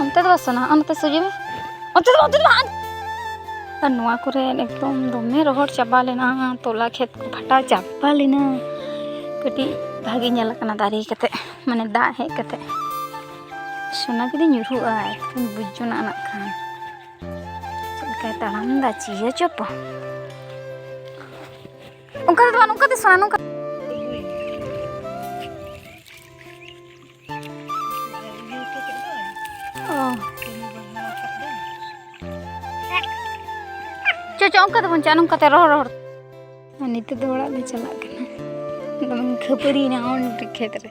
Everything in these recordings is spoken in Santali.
ᱚᱱᱛᱮ ᱫᱚ ᱥᱚᱱᱟ ᱚᱱᱛᱮ ᱥᱩᱡᱤ ᱢᱮ ᱚᱱᱛᱮ ᱫᱚ ᱚᱱᱛᱮ ᱫᱚ ᱟᱨ ᱱᱚᱣᱟ ᱠᱚᱨᱮ ᱮᱠᱫᱚᱢ ᱫᱚᱢᱮ ᱨᱚᱦᱚᱲ ᱪᱟᱵᱟ ᱞᱮᱱᱟ ᱛᱚᱞᱟ ᱠᱷᱮᱛ ᱠᱚ ᱯᱷᱟᱴᱟ ᱪᱟᱵᱟ ᱞᱮᱱᱟ ᱠᱟᱹᱴᱤᱡ ᱵᱷᱟᱜᱮ ᱧᱮᱞ ᱠᱟᱱᱟ ᱫᱟᱨᱮ ᱠᱟᱛᱮ ᱢᱟᱱᱮ ᱫᱟᱜ ᱦᱮᱡ ᱠᱟᱛᱮ ᱥᱚᱱᱟ ᱡᱩᱫᱤ ᱧᱩᱨᱦᱩᱜᱼᱟ ᱮᱱᱠᱷᱟᱱ ᱵᱩᱡᱽ ᱡᱚᱱᱟᱜ ᱱᱟᱜ ᱠᱷᱟᱱ ᱪᱮᱫ ᱞᱮᱠᱟᱭ ᱛᱟᱲᱟᱢ ᱮᱫᱟ ᱪᱤᱭᱟᱹ ᱪᱚᱯᱚ ᱚᱱᱠᱟ ᱫᱚ ᱵᱟᱝ ᱱᱚᱝᱠᱟ ᱫᱚ ᱥᱚᱱᱟ ᱱᱚᱝᱠᱟ ᱪᱚ ᱪᱚ ᱚᱱᱠᱟ ᱫᱚ ᱵᱟᱝ ᱪᱟ ᱱᱚᱝᱠᱟ ᱛᱮ ᱨᱚᱦᱚᱲ ᱨᱚᱦᱚᱲ ᱱᱤᱛᱚᱜ ᱫᱚ ᱚᱲᱟᱜ ᱞᱮ ᱪᱟᱞᱟᱜ ᱠᱟᱱᱟ ᱫᱚᱢᱮ ᱠᱷᱟᱹᱯᱟᱹᱨᱤᱭᱮᱱᱟ ᱚᱸᱰᱮ ᱠᱷᱮᱛ ᱨᱮ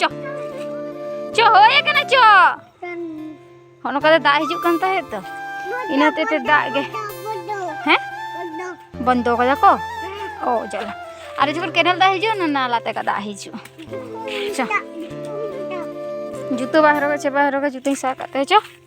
ᱪᱚ ᱪᱚ ᱦᱳᱭ ᱠᱟᱱᱟ ᱪᱚ ᱦᱚᱸ ᱱᱚᱝᱠᱟ ᱫᱚ ᱫᱟᱜ ᱦᱤᱡᱩᱜ ᱠᱟᱱ ᱛᱟᱦᱮᱸᱫ ᱛᱚ ᱤᱱᱟᱹ ᱦᱚᱛᱮᱡ ᱛᱮ ᱫᱟᱜ ᱜᱮ ᱦᱮᱸ ᱵᱚᱱᱫᱚ ᱠᱟᱫᱟ ᱠᱚ ᱚ ᱡᱟᱞᱟ ᱟᱨ ᱡᱚᱠᱷᱚᱱ ᱠᱮᱱᱮᱞ ᱫᱟᱜ ᱦᱤᱡᱩᱜᱼᱟ ᱚᱱᱟ ᱱᱟᱞᱟ ᱛᱮ ᱫᱟᱜ ᱦᱤᱡᱩᱜᱼᱟ ᱪᱚ ᱡᱩᱛᱟᱹ ᱵᱟᱝ ᱦᱚᱨᱚᱜᱟ ᱪᱮᱫ ᱵᱟᱝ ᱦᱚᱨᱚᱜᱟ ᱡᱩᱛᱟᱹᱧ ᱥᱟᱵ ᱠᱟᱜ ᱛᱟᱭᱟ ᱪᱚ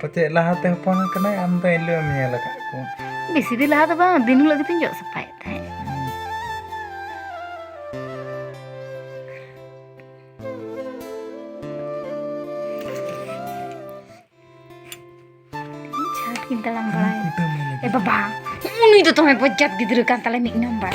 ᱯᱟᱪᱮᱫ ᱞᱟᱦᱟᱛᱮ ᱦᱚᱯᱚᱱ ᱟᱠᱟᱱᱟᱭ ᱟᱢ ᱫᱚ ᱮᱱᱦᱤᱞᱳᱜ ᱮᱢ ᱧᱮᱞ ᱟᱠᱟᱫ ᱠᱚ ᱵᱮᱥᱤ ᱫᱤᱱ ᱞᱟᱦᱟ ᱫᱚ ᱵᱟᱝ ᱫᱤᱱ ᱦᱤᱞᱳᱜ ᱜᱮᱛᱤᱧ ᱡᱚᱜ ᱥᱟᱯᱷᱟᱭᱮᱫ ᱛᱟᱦᱮᱸᱫ ᱪᱷᱟᱴ ᱠᱤᱱ ᱛᱟᱲᱟᱢ ᱵᱟᱲᱟᱭᱟ ᱮ ᱵᱟᱵᱟ ᱩᱱᱤ ᱫᱚ ᱫᱚᱢᱮ ᱵᱚᱡᱡᱟᱛ ᱜᱤᱫᱽᱨᱟᱹ ᱠᱟᱱ ᱛᱟᱞᱮ ᱢᱤᱫ ᱱᱟᱢᱵᱟᱨ